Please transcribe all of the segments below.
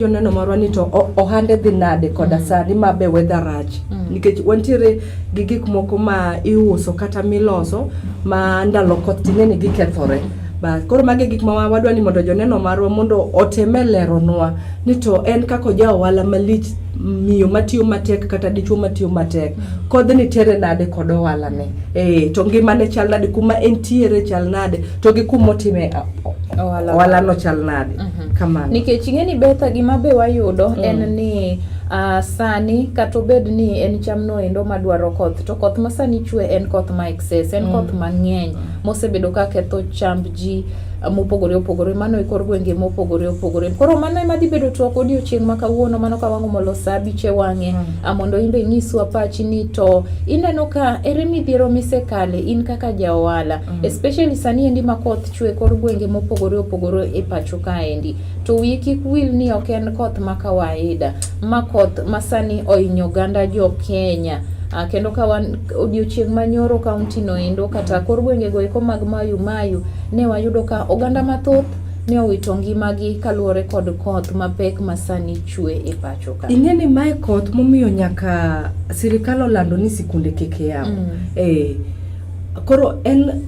joneno marwa ni to ohande dhi nade koda mm. sani ma be weather rach mm. nikech wantiere gi gik moko ma iuso kata miloso ma ndalo koth tine ni gikethore bas koro magi gik ma wadwa ni mondo joneno marwa mondo oteme leronwa ni to en kaka oja ohala malich miyo matiyo matek kata dichuo matiyo matek mm. kodhi ni tere nade kod ohalane e, to ngimane chal nade kuma entiere chal nade to gi kumotime ohalano chal nade mm -hmm. Kamano. Nikech ing'e ni Betha gima be wayudo mm. en ni uh, sani kata obed ni en cham noendo madwaro koth to koth ma sani chwe en koth ma excess en mm. koth mang'eny mm. mosebedo ka ketho chamb ji ah, mopogore opogore mano e kor gwenge mopogore opogore koro mano ema dhi bedo twak odiochieng' ma kawuono mano ka wang'o molo sa abich e wang'e mm. Ah, mondo in be inyiswa pachi ni to ineno ka ere midhiero misekale in kaka ja ohala mm. especially sani endi ma koth chwe kor gwenge mopogore opogore e pacho kaendi. To wiye kik wil ni ok en koth ma kawaida, ma koth masani ohinyo oganda jo Kenya. Uh, kendo ka wan odiochieng' manyoro kaunti no endo kata kor gwenge go eko mag Mayu Mayu ne wayudo ka oganda mathoth ne owito ngimagi kaluwore kod koth mapek masani chwe e pacho ka. Ing'e ni mae koth momiyo nyaka sirikal olando ni sikunde kik yaw. Mm. Eh, koro en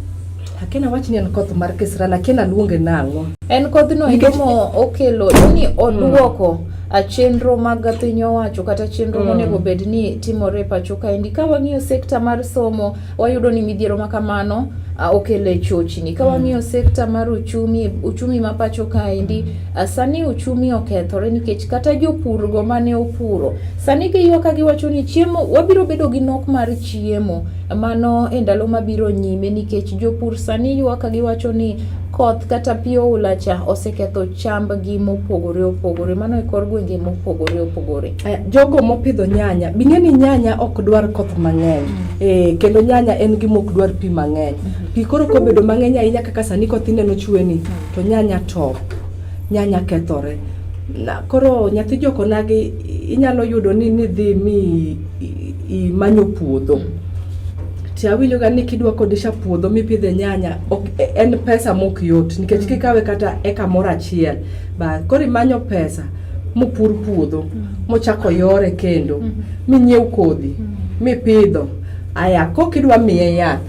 Akena wach ni en koth mar kisral, akena luonge nang'o. En kodhno endo mo okelo ni odwoko a chenro mag piny owacho kata chenro Mm. monego bed ni timore e pacho kaendi. Ka wang'iyo sekta mar somo, wayudo ni midhiero ma kamano a, okelo e chochni. Ka wang'iyo sekta mar uchumi, uchumi ma pacho kaendi, a, sani uchumi okethore nikech kata jopurgo mane opuro, sani giywa ka giwacho ni chiemo, wabiro bedo gi nok mar chiemo. mano e ndalo mabiro nyime nikech jopur sani ywak ka giwacho ni koth kata pi oula cha oseketho chambgi mopogore opogore mano e kor gwenge mopogore opogore. Eh, jogo mopidho nyanya bing'e ni nyanya ok dwar koth mang'eny mm. eh, kendo nyanya en gima ok dwar pi mang'eny mm-hmm. pi koro kobedo mang'eny ahinya kaka sani koth ineno chueni mm. to nyanya top nyanya kethore na koro nyathi jokonagi inyalo yudo ni nidhi mi imanyo puodho ti awinjoga ni kidwa kodisha puodho mipidhe nyanya ok, e, en pesa mok yot nikech kikawe kata eka moro achiel ba koro imanyo pesa mopur puodho mochako yore kendo minyiew kodhi mipidho aya kok idwa miye yath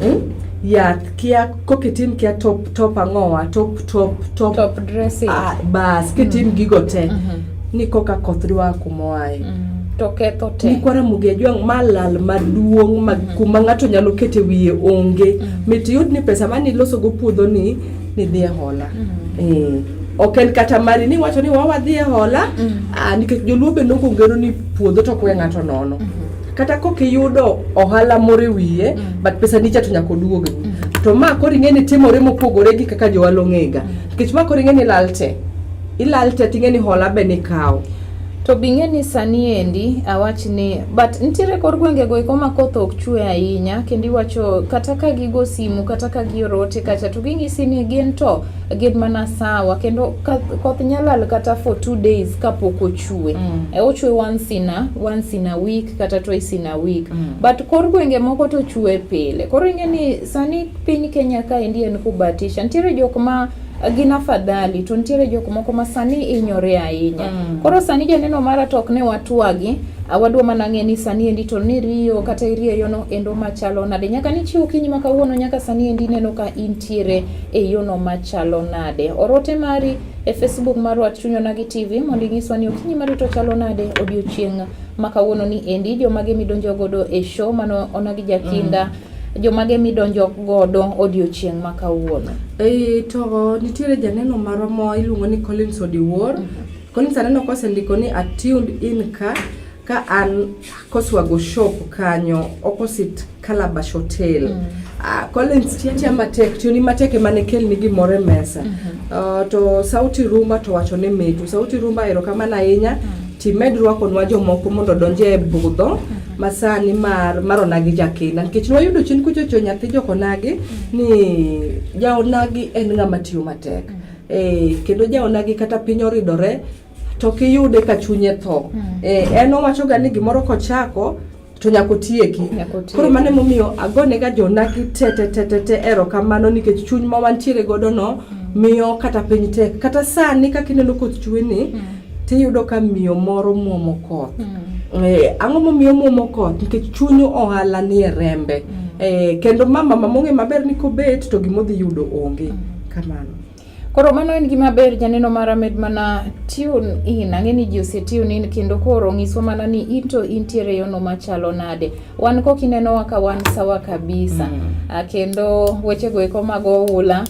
mm? yath kia ko kitim kia top top ang'owa top top top, top dressing ah, bas kitim mm. gigo te mm -hmm. ni koka koth dwa kumoae mm. to ketho te nikwara mugi ajwang' ma lal maduong' ma mm. kuma ng'ato nyalo kete wiye onge mm. mit yud ni pesa mani ilosogo puodho ni nidhi e hola mm. eh. ok en kata mari ni wacho ni wawadhi e hola mm. ah, nikech joluo be nokongero ni puodho to kwe ng'ato nono mm -hmm. kata kok iyudo ohala moro e wiye mm. but pesa nicha to nyaka oduogni mm. to ma koro ing'e ni timore mopogore gi kaka jowal ong'ega nikech ma koro ing'e ni ilal te ilal te ting'e ni hola be nikawo to bing'e ni sani endi awach ni but nitiere kor gwenge go eko ma koth ok chwe ahinya kendo iwacho kata ka gigo simu kata ka giorote kacha to ginyisi ni gin to gin mana sawa kendo koth nyalal kata for two days kapok ochue mm. e ochue once in a once in a week kata twice in a week mm. but kor gwenge moko to chue pile koro ing'e ni sani piny Kenya ka endi en kubatisha nitiere jok ma gin afadhali to nitiere jok moko ma sani inyore ahinya mm. koro sani janeno mara to ok ne watwagi awadwa mana ng'e ni sani endi to ni riyo kata irieyono endo machalo nade nyaka nichiw kinyi ma kawuono nyaka sani endi neno ka intiere e yono machalo nade. Orote mari e Facebook mar Wach Chuny Onagi TV mondo inyiswa ni okinyi ma rito chalo nade odiochieng' ma kawuono ni endi jomage midonjo godo e show mano Onagi Jakinda mm jomage midonjo godo odiochieng' ma kawuono? E, to nitiere janeno marwa mo iluongo ni Collins Odiwuor. Mm -hmm. Collins aneno kosendiko ni attuned in ka ka an koswago shop kanyo opposite calabash hotel mm. uh, collins tiatia matek tioni matek emane kelni gimoro e mesa mm -hmm. uh, to sauti rumba to wacho ni mitu sauti rumba erokamano ahinya mm. timed rwakonwa jomoko mondo donje e budho mm -hmm. masani mar maronagi jakinda nikech nwayudo chien kuchocho nyathi jokonagi mm. ni jaonagi en ng'ama tiyo matek mm. Eh, kendo jaonagi kata piny oridore to kiyude ka chunye tho mm. eh, en owachoga ni gimoro kochako to nyaka otieki koro mano emomiyo agonega jonagi tetetetete erokamano nikech chuny ma wantiere godo no mm. miyo kata piny tek kata sani kaka ineno koth chwe ni mm. tiyudo ka miyo moro mwomo koth mm. eh, ang'o momiyo mwomo koth nikech chuny ohala ni e rembe mm. eh, kendo mama mamong'e maber ni kobet to gimodhi yudo onge mm. kamano Koro mano en gima ber janeno mara med mana tune in. Ang'e ni ji ose tune in kendo koro ng'iswa mana ni into intiere yono machalo nade. Wan kok inenowa ka wan sawa kabisa. Mm. Ah, kendo weche go eko mag oula.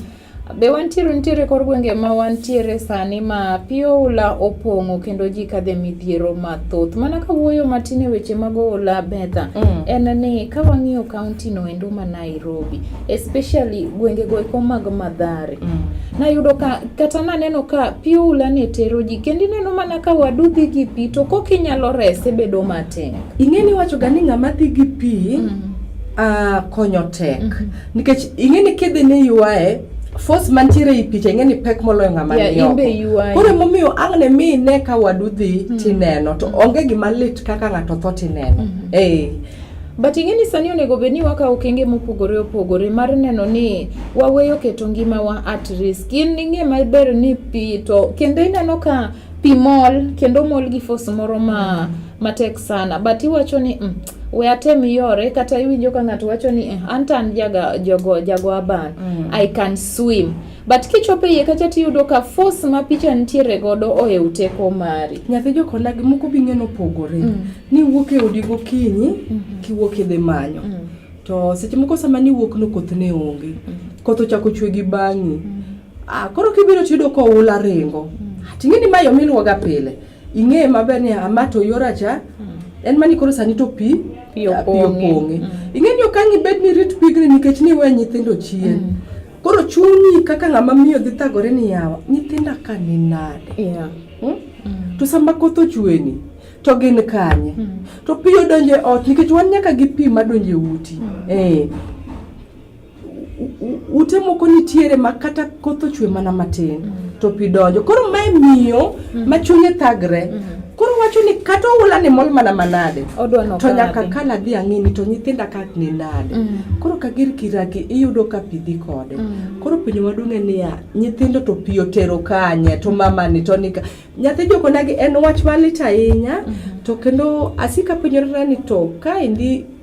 Be wantiere nitiere kor gwenge ma wantiere sani ma pi oula opong'o kendo ji kadhe midhiero mathoth. Mana ka wuoyo matin e weche mag oula Betha, mm. en ni ka wang'iyo kaunti no endo ma Nairobi, especially gwenge go eko mag madhare mm. nayudo ka kata naneno ka piula ne tero ji kendo ineno mana ka wadu dhi gi pi to kok inyalo rese bedo matek ing'eni wachoga ni ng'ama dhi gi pi mm -hmm. uh, konyo tek mm -hmm. nikech ing'eni kidhi ni yuae force mantiere i picha ing'eni pek moloyo ng'ama yeah, nioko koro emomiyo ang' ne mi ine ka wadu dhi mm -hmm. tineno to mm -hmm. onge gima lit kaka ng'ato tho tineno mm -hmm. hey. But ing'e ni sani onego bed ni wakawo okenge mopogore opogore mar neno ni waweyo keto ngimawa at risk. In ing'e maber ni pi to kendo ineno ka pi mol kendo mol gi force moro ma matek sana but iwacho ni mm, we atem yore kata iwinjo ka ng'ato wacho ni eh, an to an jaga- jogo- jago aban I can swim But kichopo iye kacha tiyudo ka force ma picha nitiere godo ohew teko mari. Nyathi jokona gi moko bi ng'eno pogore. Mm. Ni wuok e odi gokinyi mm -hmm. kiwuok idhi manyo. Mm. To seche moko sama ni wuok no koth ne onge. Mm. Koth ochako chwe gi bang'i. Mm. Ah, koro kibiro tiyudo ka oula ringo. Mm. Ah, Ting'e ni ma yo miluwoga pile. Ing'e maber ni ama to yora cha. Mm. En mani koro sani to pi pi opong'e. Mm. Ing'e ni okang' ibed ni rit pigni nikech ni we nyithindo chien. Mm. Koro chunyi kaka ng'ama miyo dhi thagore ni yawa nyithinda ka ni nade? Yeah. Hmm? Mm. To sama koth ochweni to gin kanye? Mm. To pi odonjo e ot nikech wan nyaka gi pi madonjo e uti. Mm. Eh. Ute moko nitiere ma kata koth ochwe mana matin mm. to pi donjo. Koro mae miyo mhm. ma chunye thagre mhm. koro wacho ni kata oula ni mol mana manade to nyaka ka nadhi ang'ini to nyithinda ka ni nade mhm. koro ka gir kiraki iyudo ka pi dhi kode koro penjo maduong' en niya nyithindo to pi otero kanye to mamani to nika nyathi jokonagi en wach malit ahinya to kendo asika penjorena ni to kaendi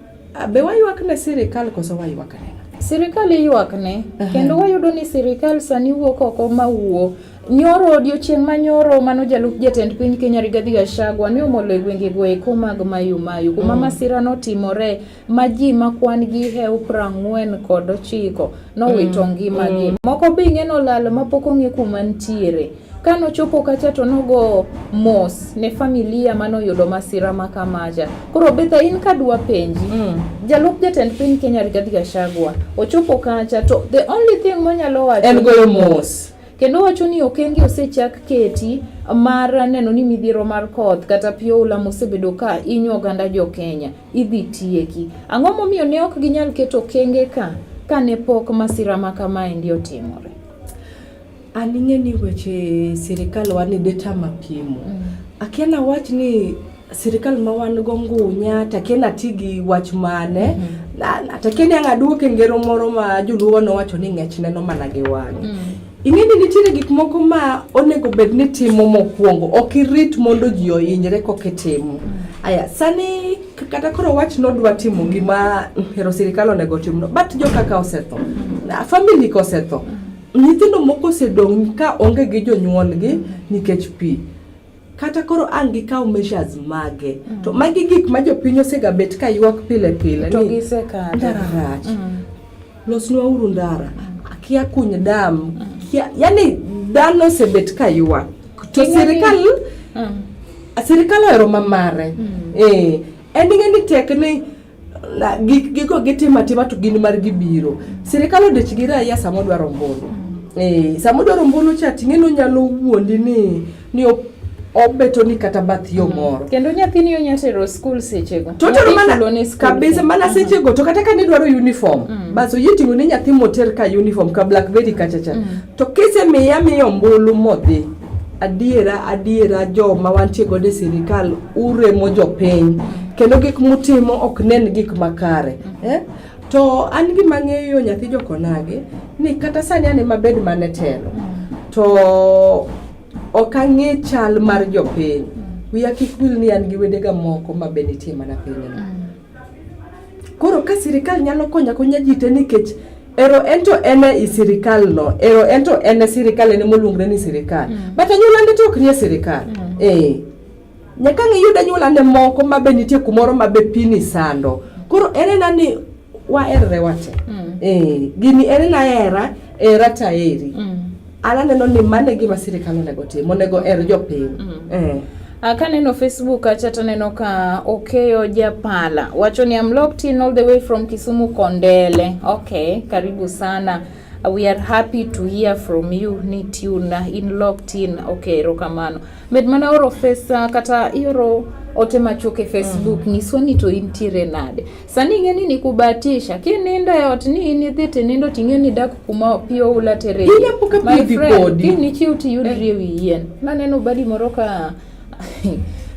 Be waywak ne sirikal koso waywak ne sirikal iywak ne kendo wayudo ni sirikal sani wuok oko ma wuo nyoro odiochieng' ma nyoro mano jalup jatend piny Kenya Rigathi Gachagua ne omolo e gwenge go eko mag Mayu Mayu kuma mm. masira notimore ma ji ma kwan gi hew prang'wen kod ochiko nowito mm. ngimagi mm. moko be ing'e nolal mapok ong'e kuma nitiere Ka nochopo kacha to nogo mos ne familia mane oyudo masira ma kamacha. Koro Betha in ka dwa penji, mm. jalup jatend piny Kenya Rigathi Gachagua ochopo kacha to the only thing monyalo wacho en goyo mos kendo wacho ni okenge osechak keti mar neno ni midhiero mar koth kata pi oula mosebedo ka inyo oganda jo Kenya idhi tieki. Ang'o momiyo ne ok ginyal keto okenge ka kane pok masira ma kamaendi otimore? An ing'e ni weche sirikal wan ni deta mapimo. Mm. Akia nawach ni sirikal ma wan go ngunya to akia nati gi wach mane. Mm -hmm. To akia ni ang' aduok e ngero moro ma joluo nowacho ni ng'ech neno mana gi wang'e. Mm. Ing'e ni nitiere gik moko ma onego bed ni timo mokwongo. Ok irit mondo ji ohinyre kok itimo. Mm. Aya, sani kata koro wach nodwa timo gima hero sirikal onego timno. But jokaka osetho. Mm. Family kosetho. Mm. Nyithindo moko osedong' ka onge gi jonyuolgi nikech pi. Kata koro ang' gikaw measures mage. Mm. To magi gik ma jopiny osega bet ka ywak pile pile. To gisekadho. Ndara rach. Mm. Losnwa uru ndara. Mm. Akia kuny dam. Mm. Kia, yani dhano osebet ka ywak. To sirikal mm. sirikal ohero mamare. Mm. Eh, en ing'e ni tek ni gigo gitimo atima to gin mar gibiro sirikal odich gi raia sama odwaro ombulu eh, sama odwaro ombulu cha ting'e ni onyalo wuondi ni ni obeto ni kata bath yo mm. moro kendo nyathini onya tero skul sechego to tero mana kabisa mana mm. sechego to kata ka nidwaro uniform mm. bas oyie ting'o ni nyathi moter ka uniform ka blackberry kachacha mm. to kisemiya miyo ombulu modhi adiera adiera jo ma wantie godo e sirikal uremo jopiny kendo gik mutimo ok nen gik makare eh? to an gima ng'eyo nyathi jokonage ni kata sani an ema bed mane telo to ok ang'e chal mar jopiny wiya kik wil ni an gi wedega moko ma be nitie mana pinyno Koro ka sirikal nyalo konya konya ji te nikech ero ento ene i sirikal no ero ento ene sirikal ene moluongre ni sirikal mm. but anyuola ndi to ok nie sirikal mm. eh nyaka ngiyud anyuola ne moko ma be nitie kumoro ma be pini sando koro ere na ni waerre wate mm. eh gini ere na era era taeri mm. An aneno ni mano e gima sirkal onego tim, onego her jopiny. Mm. Eh. Ah, kaneno Facebook kacha to aneno ka Okeyo Japala wacho ni I'm locked in all the way from Kisumu Kondele. Okay, karibu sana. Uh, we are happy to hear from you ni tune uh, in locked in okay erokamano med mana oro fesa kata ioro ote machuok e facebook mm. nyiswa ni to intiere nade Sani ing'e ni nikubatisha. Kinindo e ot ni in idhi tinindo ting'e ni dak kuma pi oula tere. Ile poka pi dhi kodi. Kini nichiw tiyudri e wi yien. Naneno badi moro ka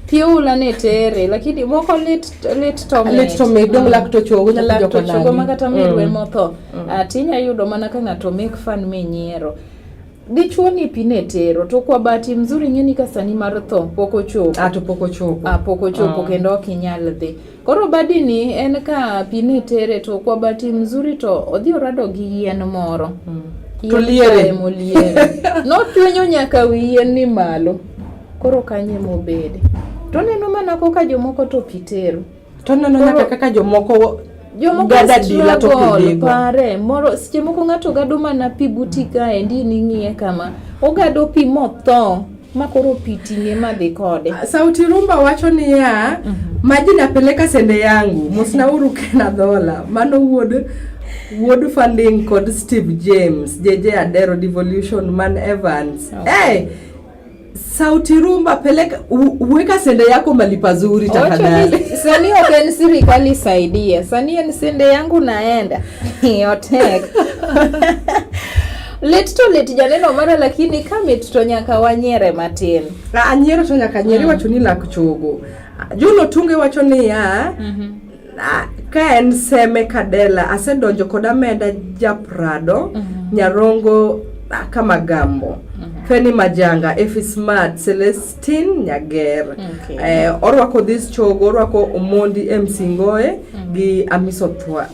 pi oula ne tere lakini moko lit lit to me. Lit to me dong mm. lak to chogo nyalo joko nani. Chogo makata mm. mirwe motho. Mm. Ati inya yudo mana ka ng'ato make fun me nyiero. Dichuo ni pi ne tero to kwa bahati mzuri ng'eni ka sani mar tho pok ochopo. Ah to pok ochopo. Ah pok ochopo ah. kendo ok inyal dhi. Koro badini en ka pi ne tere to kwa bati mzuri to odhi orado gi yien moro. Mm. To liere. Notwenyo nyaka wi yien ni malo. Koro kanye mobede. To neno mana koka jomoko to pi tero. To neno nyaka kaka jomoko jomokpare moro seche moko ng'ato gado mana pi buti kaendi ning'iye kama ogado pi motho ma koro pi ting'e ma dhi kode. Ah, Sauti Rumba wacho niya, mm -hmm. maji napeleka sende yangu mosnauru kena dhola mano wuod wuod funding kod Steve James JJ Adero Devolution Man Evans okay. hey, eh, Sauti Rumba, peleka weka sende yako mali pazuri tafadhali. Sani open serikali saidia. Sani sende yangu naenda. Otek. Lit to lit janeno mara lakini kamit to nyaka wanyere matin. Na anyiero to nyaka nyieri mm. wacho ni lak chogo. Juno tunge wacho ni ya mm -hmm. Ah, ka en seme kadela asedonjo kod ameda japrado mm -hmm. nyarongo ah, kama gambo mm -hmm. feni majanga efi smart celestin nyager okay. eh, orwako this chogo orwako omondi msingoe mm -hmm. gi amiso thwa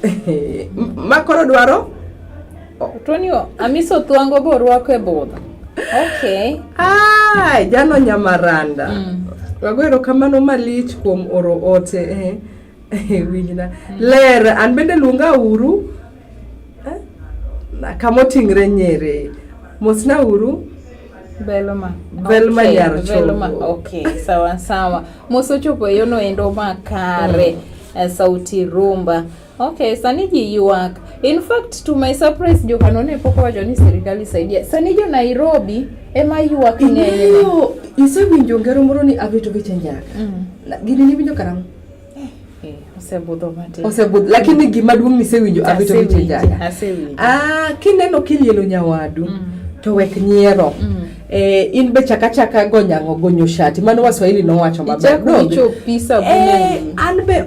makoro dwaro Tony Amisi Otwango be orwako e budho. Okay. Ah, jalo nyamaranda. Mm. Wago erokamano malich kuom oro ote eh. eh Winjna. Mm. Ler an bende luonga uru. Eh? Kama oting're nyere. Mosna uru. Belma. Belma okay. yar chopo. Belma. Okay, sawa sawa. Mosochopo yono endo makare. Mm. Eh, sauti rumba. Mm. Okay, sani ji yuak. In fact to my surprise Johano ne pok owacho ni sirkal isaidia. Sani jo Nairobi ema yuak ng'eny. Iyo, isewinjo ngero moro ni abito gi chenjaka. Mm. Gini ni winjo karang'o? Eh, eh, osebudho matin. Osebudho, lakini mm. gima duong' nisewinjo abito gi chenjaka. Asewinjo. Ah, kineno kilielo nyawadu mm. to wek nyiero. Mm. Eh, in be chakachaka gonyango gonyo shati mano waswahili nowacho maber eh, an be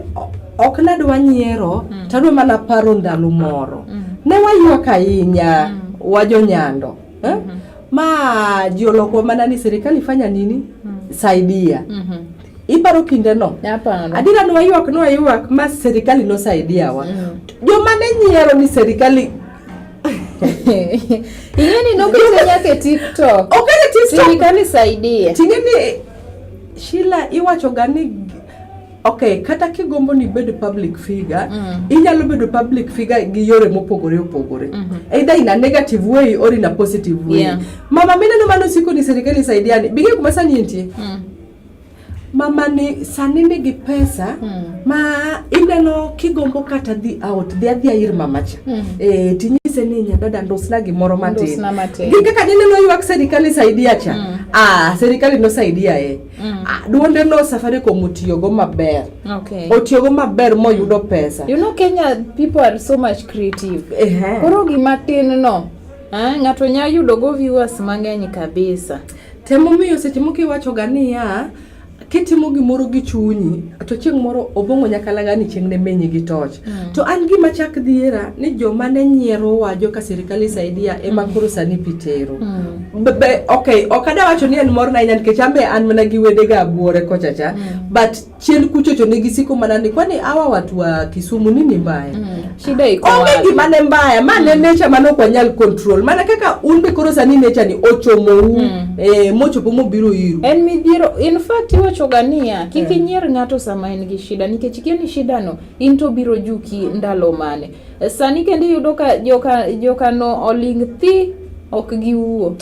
ok nadwa nyiero mm. tadwa mana paro ndalo moro mm. ne waywak ahinya mm. wajonyando eh? mm -hmm. ma jiolokwa mana ni serikali fanya nini mm. saidia mm -hmm. Iparo kinde no? Aparo. Adira nwa ywak nwa ywak ma serikali no saidia wa. Mm. Jo mane nyiero ni serikali Ing'e ni nokete nyaka e TikTok. Okete e TikTok. Serikali saidia. Ting'e ni Sheila iwacho ga ni ok kata kigombo ni bedo public figure mm. inyalo bedo public figure gi yore mopogore opogore mm -hmm. either in a negative way or in a positive way yeah. mama mineno mano siko ni serikali saidiani bige kuma sani entie mm. mama ni sani nigi pesa hmm. ma ineno kigombo kata dhi out dhi adhia ir mamacha hmm. e, tinyise ni nyadada ndosna gimoro matin gi kaka nineno ywak serikali saidia cha hmm. ah, serikali nosaidia e hmm. ah, duonde no safaricom otiyogo maber okay. otiyogo maber moyudo pesa you know kenya people are so much creative uh -huh. koro gimatin no eh, ng'ato nya yudogo viewers mang'eny kabisa Temo miyo seche moko iwachoga niya, kitimo gimoro gi chunyi to chieng' moro obong'o nyakalaga ni chieng' ne menyi gi toch mm. to an gima chak dhiera ni joma ne nyiero wajo ka sirikal isaidia ema mm. koro sani pitero mm. ok ok ada wacho ni en morna ahinya nikech an be an mana gi wedega abwore kochacha mm. but chien kucho to nigi siko mana ni kwani hawa watu wa Kisumu nini mbaya? Mm. Shida iko wapi? Onge gima ne mbaya, mane mm. nature mane ok wanyal control. Mana kaka un be koro sani nature ni ochomou mm. eh, mochopo mobiro iru. En midhiero, in fact iwacho gania kik yeah. inyier ng'ato sama en gi shida nikech ikia ni shida no in to biro juki ndalo mane. Sani kendo iyudo ka joka joka no oling thi ok giwuo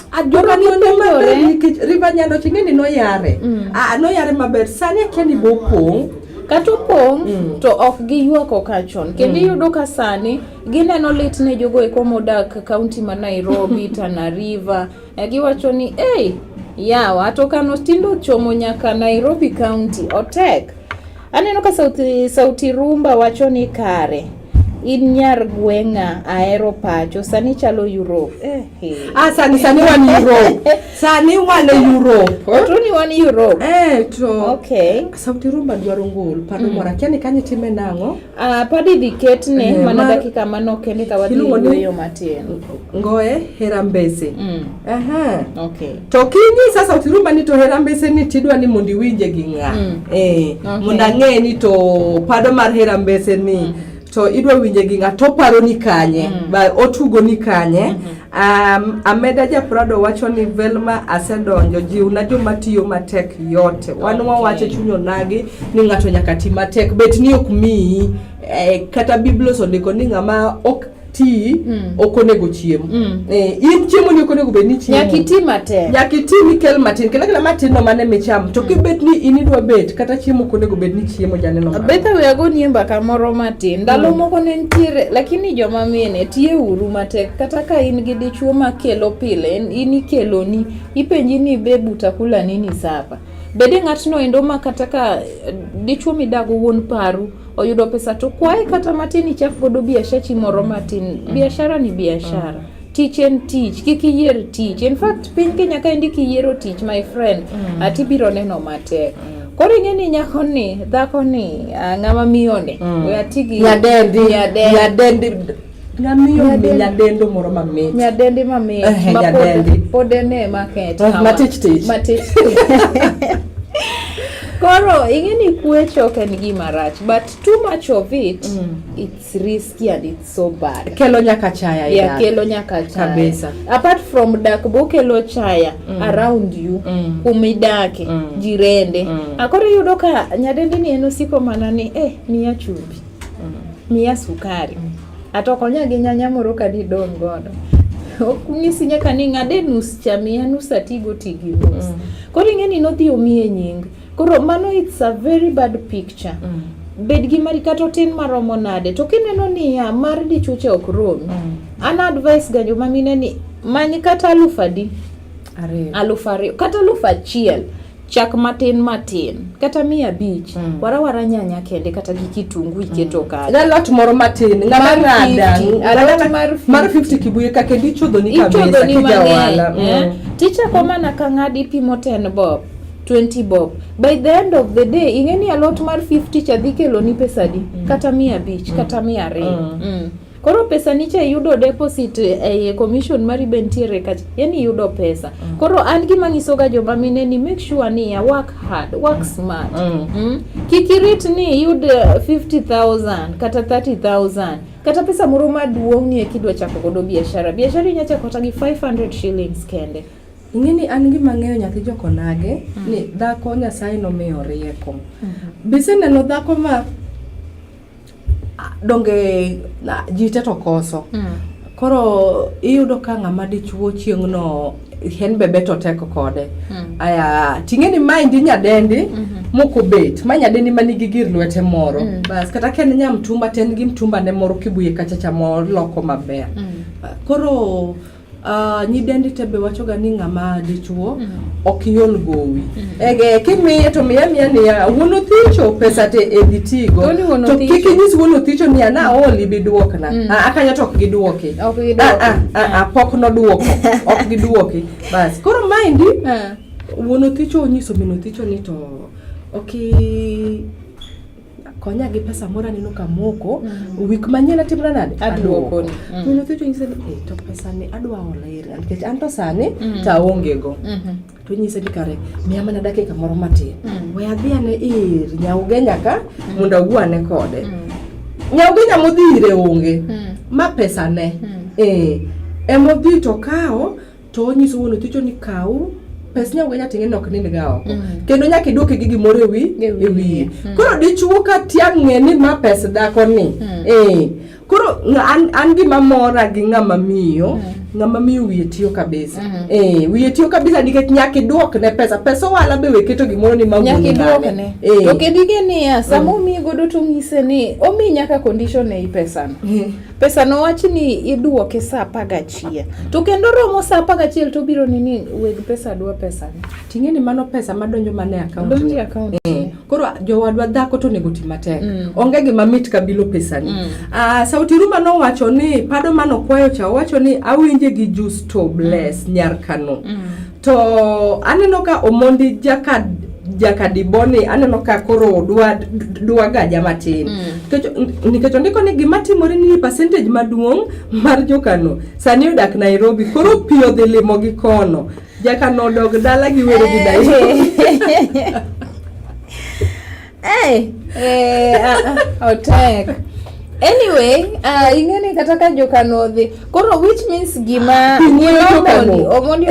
nikech river nyando ching'e ni noyare mm. ah, noyare maber sani akia ni bopong' kata opong' mm. to ok giywak okachon kendo mm. iyudo ka sani gineno lit ne jogo eko modak kaunti ma Nairobi Tana River eh, giwacho ni ei yawa to kano tindo chomo nyaka Nairobi kaunti otek Aneno ka sauti, sauti rumba wacho ni kare in nyar gweng'a ahero pacho sani chalo Europe. Eh, eh. Ah, sani sani wan Europe. sani wan Europe. Otuni wan Europe. Eh, to. Okay. Sauti rumba dwaro ngol pano mm. mora kiani kanyi time nango. Ah, padi diket ne eh, mana mar... dakika mano kende ka wadhi yo matin. Ngoe herambese. Mm. Aha. Okay. to kingi sasa otirumba ni to hera mbese ni tidwa ni mondi winje gi ng'a mm. eh okay. mondo ang'e ni to pado mar hera mbese ni mm. to idwa winje gi ng'a to paro ni kanye mm. ba otugo ni kanye mm -hmm. Um, Ameda Japrado wacho ni Velma asedonjo jiw na joma tiyo matek yote wan okay. wawache chunyo nagi ni ng'ato nyaka ti matek bet ni ok miyi eh, kata biblos ondiko ni ng'ama ok ti mm. ok onego chiem mm. eh, in chiemo ni ok onego bed ni chiemo nyaka iti matin nyaka iti ni kel matin kila kila matin no mane micham to mm. kibet ni in idwa bet kata chiemo ok onego bed ni chiemo jane no betha we ago ni mbaka moro matin ndalo mm. moko ne nitiere lakini joma mine tie uru matek kata ka in gi dichuo ma kelo pile in ikelo ni ipenji ni be butakula nini sapa bede ng'atno endo ma kata ka eh, dichuo midago wuon paru oyudo pesa to kwaye kata matin ichak godo biashachi moro matin mm. biashara ni biashara mm. tich en tich kik iyier tich in fact piny kenya ka endi kiyiero tich my friend mm. ati biro neno matek mm. koro ing'e ni nyako ni dhako ni ah, ng'ama miyo ni mm. we atigi nyadendi nyadendi Ngamiyo Nyadendi. nyadendo moro mamit. Nyadendi mamit. Eh, ma pod- nyadendi. Pod ene market. Ah, hawa. matich tich. Matich tich. Koro ing'e ni kwech ok en gima rach but too much of it it's risky and it's so bad. Kelo nyaka chaya e ya dak. kelo nyaka chaya Kabisa. apart from dak bokelo chaya Mm. around you Mm. kumidake Mm. jirende Mm. akoro iyudo ka nyadendi ni en osiko mana ni eh miya chumbi Miya sukari. Ato konya gi nyanya moro ka didong' godo. Ok nyisi nyaka ni ng'ade nus cha miya nus atigo ti gi nus. Mm. Koro ing'e ni nodhi omiye nying. Koro mano it's a very bad picture. Mm. Bed gi mari kata otin maromo nade. To kineno niya mar dichuche ok romi. Mm. An advice ga joma mine ni many kata alufu adi? Ariyo. Alufu ariyo. Kata alufu achiel. chak matin matin kata mia abich mm. warawara nyanya kende kata gi kitungu iketo mm. kanyo galot moro matin ng'ama ng'ada mar 50 kibuye ka kendo ichodhoni kabisa kijawala mm. eh? tichako mana ka ng'adi pimo ten bob 20 bob by the end of the day ing'e ni alot mar 50 cha dhi keloni pesadi mm. kata mia abich mm. kata mia ariyo mm. mm. Koro pesa nicha yudo deposit eh, commission mari be nitiere kacha, yani yudo pesa mm. Koro an gima nyisoga joma mine ni make sure ni ya work hard, work smart mm. Mm. Kikirit ni yud 50,000 eh, kata 30,000 kata pesa moro maduong' ni ekidwa chako godo biashara biashara inya chako kata gi 500 shillings kende ing'e ni an gima ng'eyo nyathi jokonage mm. ni dhako nyasaye nomiyo rieko mm -hmm. biseneno dhako ma Ah, donge na- ji te to koso koro iyudo ka ng'ama dichuo chieng'no hen bebe to tek kode aya ting'e ni maendi nyadendi mokobet ma nyadendi ma nigi gir lwete moro bas kata ka en nya mtumba to en gi mtumbane moro kibuye kachacha moloko maber koro Uh, nyidendi te be wachoga ni ng'ama dichuo mm. ok iol gowi mm. ege kimiye to miya miya niya wuon othicho pesa te edhi tigo to kik inyis wuon othicho niya na aol ibi duokna mm. Ah, akanya to ok giduoki okay, ah, ah, ah, ah, pok noduoko ok giduoki bas koro maendi uh. wuon othicho onyiso min othicho ni to ok okay, konya gi pesa moro aneno ka moko mm. wik manyien atimra nade aduoko ni mm. mino thucho nyise ni eh, to pesa ni adwa olo iri nikech an to sani mm. to aonge go mm-hmm. to nyise ni kare miya mana dakika moro matin we adhi ane ir nyaugenya ka mondo awuo ane kode nyaugenya modhi ire onge ma pesa ne eh, emodhi to kawo to onyiso wuon othicho ni kaw pes nyawe nyatinge ni ok nind ga oko mm. kendo nyaka iduoke gi gimoro ewi ewiye mm. koro dichuo ka tiang' ng'e ni ma pes dhako ni mm. eh koro an, an gima mora gi ng'ama miyo mm. ng'ama miyo wiye tiyo kabisa mm. eh wiye tiyo kabisa nikech nyaka iduok ne pesa pesa wala be weketo gimoro ni ma nyaka iduok ne eh. to kedige niya sama mm. omiyi godo to ng'ise ni omi nyaka condition ei pesa no mm. pesa no wach ni iduoke saa apar gachiel to kendo romo saa apar gachiel to obiro ni ni weg pesa dwa pesa ni ting'e ni mano pesa madonjo mana e account donjo e account eh, koro jowadwa dhako to onego ti matek mm. onge gima mit ka bilo pesa ni mm. uh, sauti ruma nowacho ni pado mano kwayo cha owacho ni awinje gi justo bless mm. nyar kano mm. To aneno ka Omondi jaka jakadiboni aneno ka koro dwa dwa gaja matin mm. nikech ondiko ni gima timore ni percentage maduong' mar jokano sani odak Nairobi koro pi odhi limo gi kono jakano odog dala gi wero gi dayo Hey, eh, hey, eh, uh, ah, otek. Ah, anyway uh, ing'eni kata ka jokano odhi koro which means gima omondi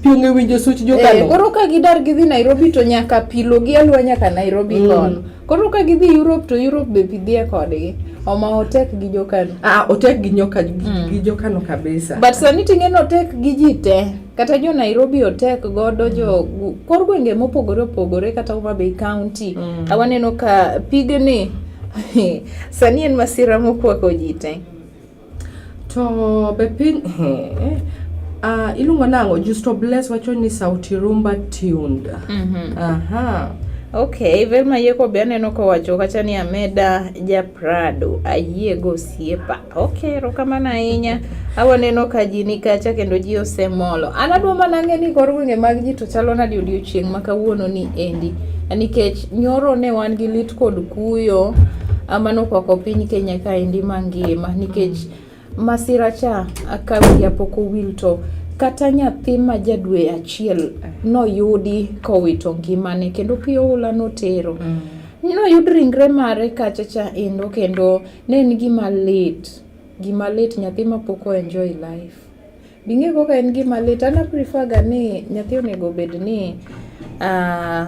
pionge winjo such jokano eh, koro ka gidar gidhi nairobi to nyaka pilo gi alwa nyaka nairobi mm. kono koro ka gidhi europe to europe be pidhie kodgi oma otek gi jokano ah, otek gi nyoka mm. gi jokano kabisa but sani ting'eni otek gi ji te kata jo Nairobi otek godo mm. jo kor gwenge mopogore opogore kata Homa Bay County mm. awaneno ka pigni sani en masira mokwako ji te to be piny uh, iluongo nang'o Justo Bless wacho ni sauti rumba tuned mm -hmm. aha Okay, Velma Yeko be aneno kowacho kacha ni Ameda ja Prado ayiego osiepa. Ok, erokamano ahinya. Awaneno ka ji ni kacha kendo ji osemolo. An adwa mana ng'e ni kor gwenge mag ji to chalo nadi odiochieng' ma kawuono ni endi. Nikech nyoro ne wan gi lit kod kuyo amano kwako piny Kenya ka endi mangima nikech masira cha ka wiya pok owil to kata nyathi ma jadwe achiel noyudi kowito ngimane kendo pi oula notero. Mm. Noyud ringre mare kacha cha endo kendo Ne en gima lit, gima lit nyathi ma pok o enjoy life. Bing'e kaka en gima lit, an a prefer ga ni nyathi onego obed ni uh,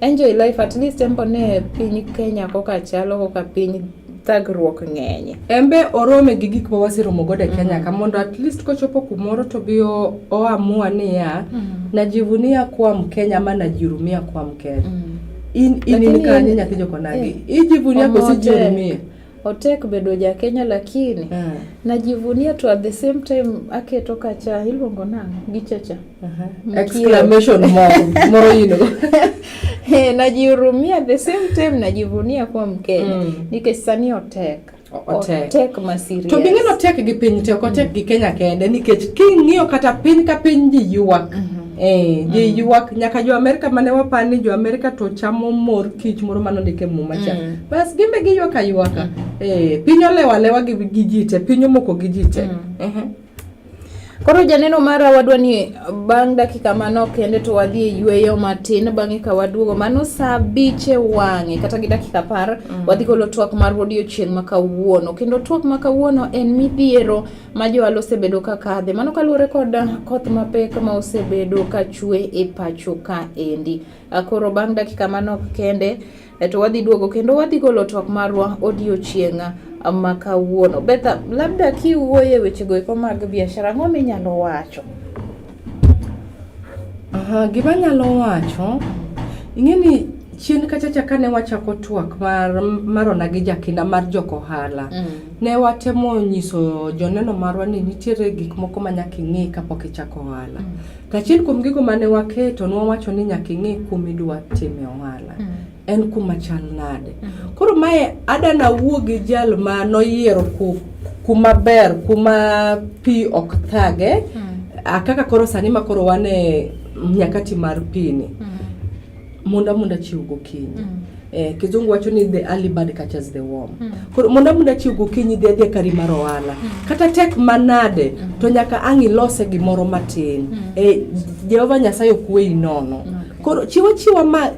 enjoy life at least embo ne piny Kenya koka chalo koka piny thagruok ng'enye. Embe orome gi gik ma waseromo godo e Kenya mm -hmm. ka mondo at least kochopo kumoro to bi oamua niya mm -hmm. najivunia kuwa Mkenya ama najihurumia kuwa Mkenya. Mm -hmm. in in in kanye nyathi joko nagi eh, ijivunia kosi jiumie otek bedo ja Kenya lakini uh. Ah. najivunia to at the same time aketo kacha iluongo na gichacha uh -huh. exclamation moro moro yino hey, eh, najihurumia at the same time najivunia kuwa Mkenya mm. nikech sani otek otek tek ma serious to ging'e no tek gi piny te ok otek gi Kenya kende nikech king'iyo kata piny ka piny ji ywak mm -hmm. Eh, ji mm. ywak nyaka jo Amerika mane wapar ni jo Amerika to chamo mor kich moro mane ondike muma cha mm. bas gimbe giywaka ywaka mm. eh, piny olewa lewa gi, gi jite piny omoko gi jite mm. uh -huh. Koro janeno mara wadwa ni bang' dakika manok kende to wadhi e yueyo matin bang'e ka waduogo mano saa abich e wang'e kata gi dakika apar mm. wadhi golo twak mar odiochieng' ma kawuono kendo twak ma kawuono en midhiero ma joal osebedo ka kadhe mano kaluwore kod koth mapek ma osebedo ka chwe e pacho ka endi. Koro bang' dakika manok kende eto wadhi duogo kendo wadhi golo twak marwa odiochieng' ma kawuono. Betha, labda kiwuoye wechego eko mag biashara, ang'o minyalo wacho? Aha, gima nyalo wacho, ing'e ni chien kachacha kane wachako twak mar marona gi jakinda mar jok ohala mm. ne watemo nyiso joneno marwa ni nitiere gik moko ma nyaka ing'e kapok ichako ohala mm. To achiel kuom gigo mane waketo ne wawacho ni nyaka ing'e kuma idwa time ohala. Mm. En kuma chal nade. Mm. Koro mae ada nawuo gi jal ma noyiero ku, kuma ber, kuma pi ok thage. Mm. Kaka koro sani ma koro wane nyakati mar pi ni. Mm. Mondo amunda chiw gokinyi. Mm. Eh, kizungu wacho ni the early bird catches the worm. Mm. Koro mondo amunda chiw gokinyi dhi adhi e kari mar ohala. Mm. Kata tek manade mm. to nyaka ang' ilose gimoro matin. Mm. Eh, Jehova Nyasaye ok weyi nono. Okay. Koro chiwo chiwa ma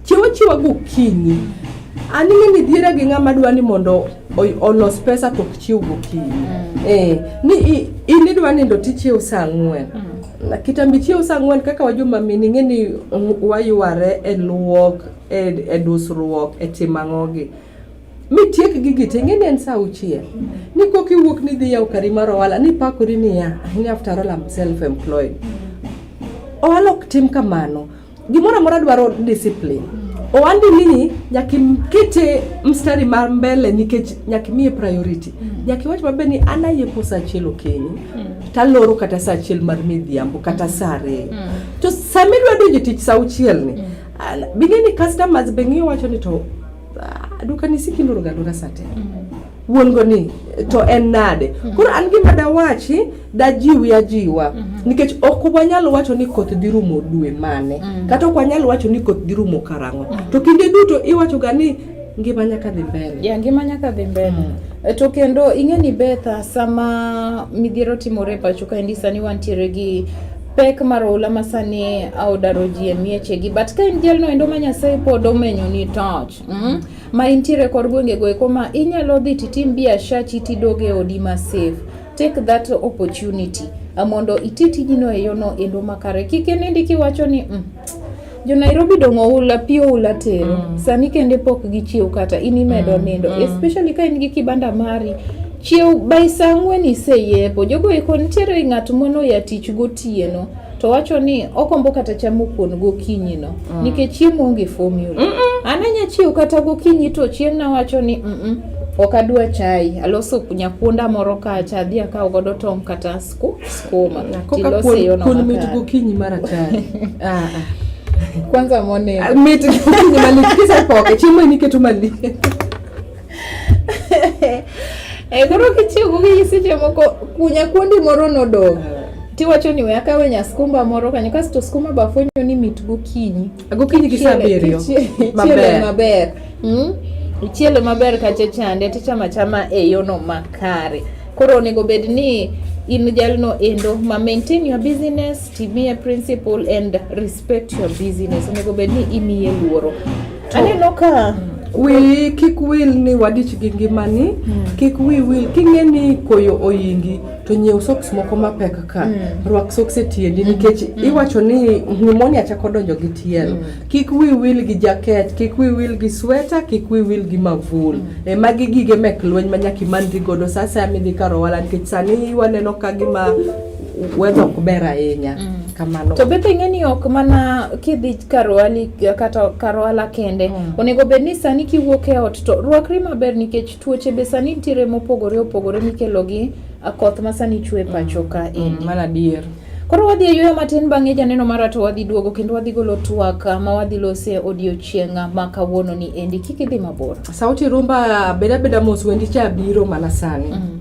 chiwo chiwa gokinyi. Mm. Ani ng'eni dhiera gi ng'ama dwa ni mondo olos pesa to ok chiw gokinyi. Mm. Eh, ni in idwa nindo tichiew saa ang'wen. Mm. Kitambi chiew saa ang'wen kaka wajoma mine ing'e ni wayware e luok e, e dusruok e timo ang'ogi mitiek gigi te ing'e ni en saa auchiel ni kok iwuok ni dhi yawo kari mar ohala ni pakori niya ni after all I'm self employed ohala ok tim kamano Gimoro amora dwaro discipline. Owandi nini nyaka ikete mstari mar mbele nikech nyaka imiye priority. Mm. Nyaka iwach maber ni an ayepo sa achiel okinyi. Mm. Taloro kata sa achiel mar midhiambo kata mm. sa ariyo. Mm. To sama idwa donjo tich sa auchiel ni, mm. bing'e ni customers be ng'iyo wacho ni to Duka ni siki ndoro ga ndora sate. Mm -hmm. wuon go ni to en nade mhm. koro an gima dawachi dajiwi ajiwa mhm. nikech ok wanyal wacho ni koth dhi rumo dwe mane mhm. kata ok wanyal wacho ni koth dhi rumo karang'o to kinde duto iwachoga ni ngima nyaka dhi mbele yeah, ngima nyaka dhi mbele mm. Eh, to kendo ing'e ni betha sama midhiero timore pacho kaendi sani wantiere gi pek mar oula ma sani odaro ji e miechegi but ka in jalno endo ma nyasaye pod omenyoni toch mm? ma intiere kor gwengego eko ma inyalo dhi titim biashachi tidog e odi ma safe take that opportunity mondo iti tijino e yono endo makare kik inindi kiwacho ni mm, jo Nairobi dong' oula pi oula tero mm. sani kende pok gichiew kata in imedo mm. nindo mm. especially ka in gi kibanda mari chiew by saa ang'wen iseyepo jogo eko nitiere ng'at mono ya tich gotieno to wacho ni okombo kata chamo kuon gokinyi no mm. nikech chiemo onge formula mm -mm. an anya chiew kata gokinyi to chieng' nawacho ni mm -mm. ok adwa chai aloso nyakuonda moro kacha adhi akaw godo tong' kata sukuma kun mit gokinyi mar atari ah, ah. kwanza mone ah, mit gokinyi mali kisa poke chiemo ni ketu mali e koro kitiyo gokinyi seche moko kunya kuondi moro nodong tiwacho ni wea kawe nya skumba moro kanyo kasto skumba bafwenyo ni mit gokinyi gokinyi gi saa abiriyo maber maber hmm? ichiele maber kacha chande tichama chama e yono makare Koro onego bed ni in jalno endo ma maintain your business, timie principle and respect your business. Onego bed ni imiye luoro. Aneno ka wi kik wil ni wadich gi ngimani mm. kik wi wil king'e ni koyo oyingi to nyiew socks moko mapek ka mm. rwak socks e tiendi mm. nikech mm. iwacho ni pneumonia chako donjo gi tielo mm. Kik wi wil gi jaket, kik wi wil gi sweta, kik wi wil gi mavul. Mm. E magi gige mek lweny ma nyaka imanri godo sa asaya midhi kar owala nikech sani waneno ka gima wedha ok ber ahinya. Mm. Kamano. To be ing'e ni ok mana kidhi kar owali kata kar ohala kende. Mm. Onego bed ni sani kiwuok e ot to rwakri maber nikech tuoche be sani nitiere mopogore opogore mikelo gi koth ma sani chwe pacho ka mm. endi. Mm. Mana adier. Koro wadhi e yueyo matin bang'e janeno mara to wadhi duogo kendo wadhi golo twak ma wadhi lose odiochieng' ma kawuono ni endi kik idhi mabor. Sauti rumba beda beda mos wendi cha biro mana sani. Mm.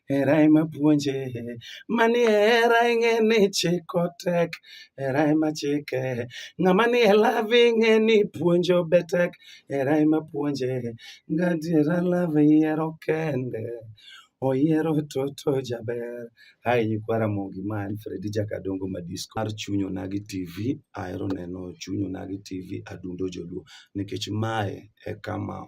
Hera ema puonje, mani hera ing'e ni chiko tek, hera ema chike. Ng'ama ni e love ing'e ni puonjo be tek, hera ema puonje. Gadiera love yiero kende, oyiero toto jaber. Hai nyikwa Ramogi ma en Fredi Jakadongo Madisco mar Chuny Onagi TV. Ahero neno Chuny Onagi TV adundo joluo nikech mae e kama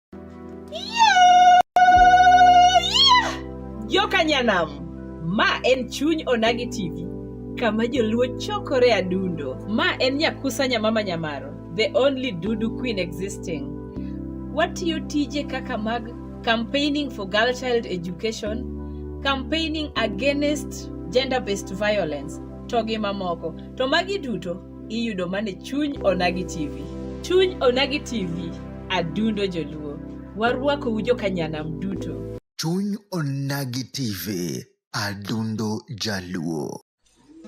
Jokanyanam, ma en chuny Onagi TV, kama joluo chokore adundo. Ma en Nyakusa Nyamama Nyamaro, the only Dudu Queen existing. Watiyo tije kaka mag campaigning for girl child education, campaigning against gender-based violence, to gi mamoko. To magi duto iyudo mana e chuny Onagi TV. Chuny Onagi TV, adundo joluo. Warwakou jokanyanam duto. Chuny Onagi TV, adundo jaluo.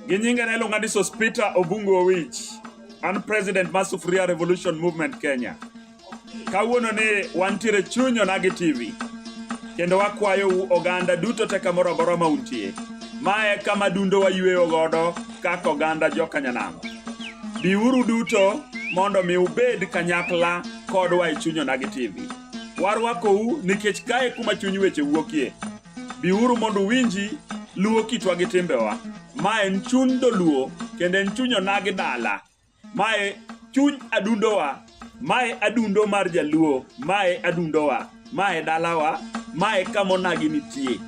Gi nyinge ne iluonga ni Sospita Obungu Owich. An president mar Sufuria Revolution Movement Kenya. Kawuono ni wantiere chuny Onagi TV kendo wakwayou oganda duto te kamoro amora ma untie. Ma e kama dundo wayueyo godo kaka oganda jokanyanamo. Biuru duto mondo mi ubed kanyakla kodwa e chuny Onagi TV. Warwakou nikech kae kuma chuny weche wuokie. Biuru mondo uwinji luwo kitwa gi timbewa. Ma en chuny dholuo kendo en chuny Onagi dala. mae chuny adundowa mae adundo mar jaluo mae adundowa mae dalawa mae kamonagi nitie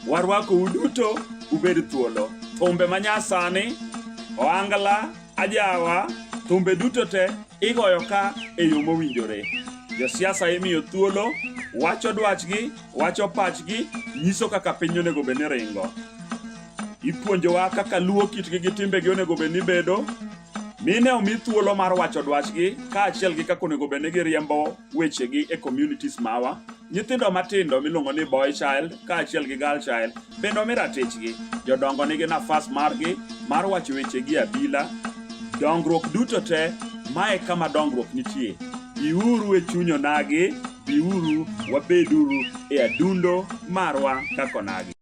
warwakou duto ubed thuolo thumbe manyasani oangla ajawa thumbe duto te igoyo ka e yo mowinjore josiasa imiyo thuolo wacho dwachgi wacho pachgi nyiso kaka piny onego bed ni ringo Ipuonjowa kaka luwo kitgi gi timbegi onego bed ni bedo, mine omi thuolo mar wacho dwachgi kaachiel gi kaka onego bed ni giriembo wechegi e communities mawa. Nyithindo matindo miluongo ni boy child kaachiel gi girl child bende omi ratichgi. Jodongo nigi nafas margi mar wacho wechegi e abila. Dongruok duto te, mae kama dongruok nitie. Biuru e chuny onagi, biuru wabeduru e adundo marwa kaka onagi.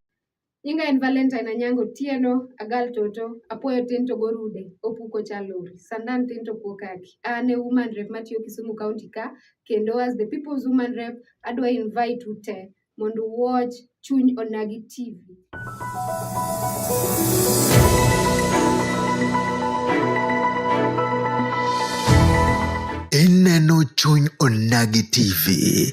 Nyinga en Valentine Anyango Otieno, agal toto, apuoyo tin to gorude, opuko chalori, sandan tin to kuo kaki. An e woman rep matiyo Kisumu County ka, kendo as the people's woman rep, adwa invite u te mondo watch Chuny Onagi TV. Ineno Chuny Onagi TV.